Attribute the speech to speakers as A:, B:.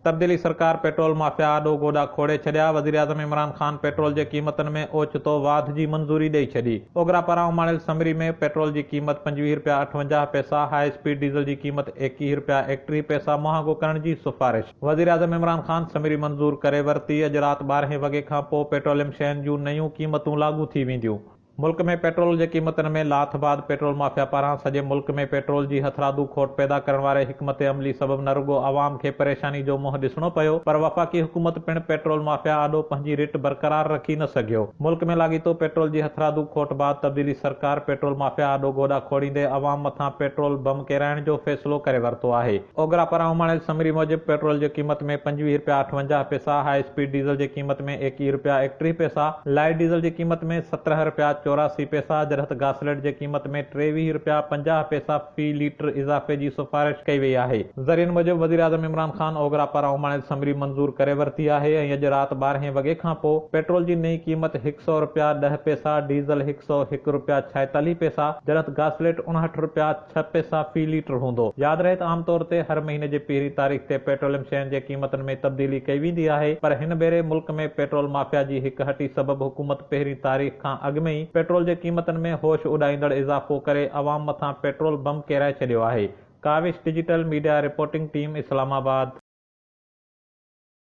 A: تبديلي سرڪار petrol mafia آڏو گوڏا کوڙي ڇڏيا، وزيراعظم عمران خان پيٽرول جي قيمتن ۾ اوچتو واڌ جي منظوري ڏئي ڇڏي، اوگرا پاران اماڻيل سمري ۾ پيٽرول جي قيمت پنجويهه رپيا اٺونجاهه پئسا، هاء اسپيڊ ڊيزل جي قيمت ايڪيهه رپيا ايڪٽيهه پئسا مهانگو ڪرڻ جي سفارش. وزيراعظم عمران خان سمري منظور ڪري ورتي، اڄ رات ٻارهين وڳي کان پوء پيٽروليم شين جون نيون قيمتون لاڳو ٿي وينديون. ملڪ ۾ پيٽرول جي قيمتن ۾ لاٿ بعد پيٽرول مافيا پاران سڄي ملڪ ۾ پيٽرول جي هٿرادو کوٽ پيدا ڪرڻ واري حڪمت عملي سبب نه رڳو عوام کي پريشاني جو منهن ڏسڻو پيو پر وفاقي حڪومت پڻ پيٽرول مافيا آڏو پنهنجي رٽ برقرار رکي نه سگهيو. ملڪ ۾ لاڳيتو پيٽرول جي هٿرادو کوٽ بعد تبديلي سرڪار پيٽرول مافيا آڏو گوڏا کوڙيندي عوام مٿان پيٽرول بم ڪيرائڻ جو فيصلو ڪري ورتو آهي. اوگرا پاران اماڻيل سمري موجب پيٽرول جي قيمت ۾ پنجويهه رپيا اٺونجاهه پئسا، هاء اسپيڊ ڊيزل جي قيمت ۾ ايڪيهه رپيا ايڪٽيهه پئسا، لائيٽ ڊيزل جي قيمت ۾ سترهه رپيا چوراسي پئسا جڏهت گاسليٽ جي قيمت ۾ ٽيويهه رپيا پنجاهه پئسا في ليٽر اضافي جي سفارش ڪئي وئي آهي. ذريعن موجب وزيراعظم عمران خان اوگرا پاران اماڻيل سمري منظور ڪري ورتي آهي ۽ اڄ رات ٻارهين وڳي کان پوء پيٽرول جي نئين قيمت هڪ سؤ رپيا ڏهه پئسا، ڊيزل هڪ سؤ هڪ رپيا ڇائيتاليهه پئسا جڏهت گاسليٽ اڻهٺ رپيا، ڇهه پئسا في ليٽر هوندو. ياد رهي ته عام طور تي هر مهيني جي پهرين تاريخ تي پيٽروليم شين جي قيمتن ۾ تبديلي ڪئي ويندي آهي پر هن ڀيري ملڪ ۾ پيٽرول مافيا جي هڪ هٽي سبب حڪومت پهرين تاريخ کان اڳ ۾ ئي پيٽرول جي قيمتن ۾ هوش اڏائيندڙ اضافو ڪري عوام مٿان پيٽرول بم ڪيرائي ڇڏيو آهي. Kawish digital media reporting team اسلام آباد.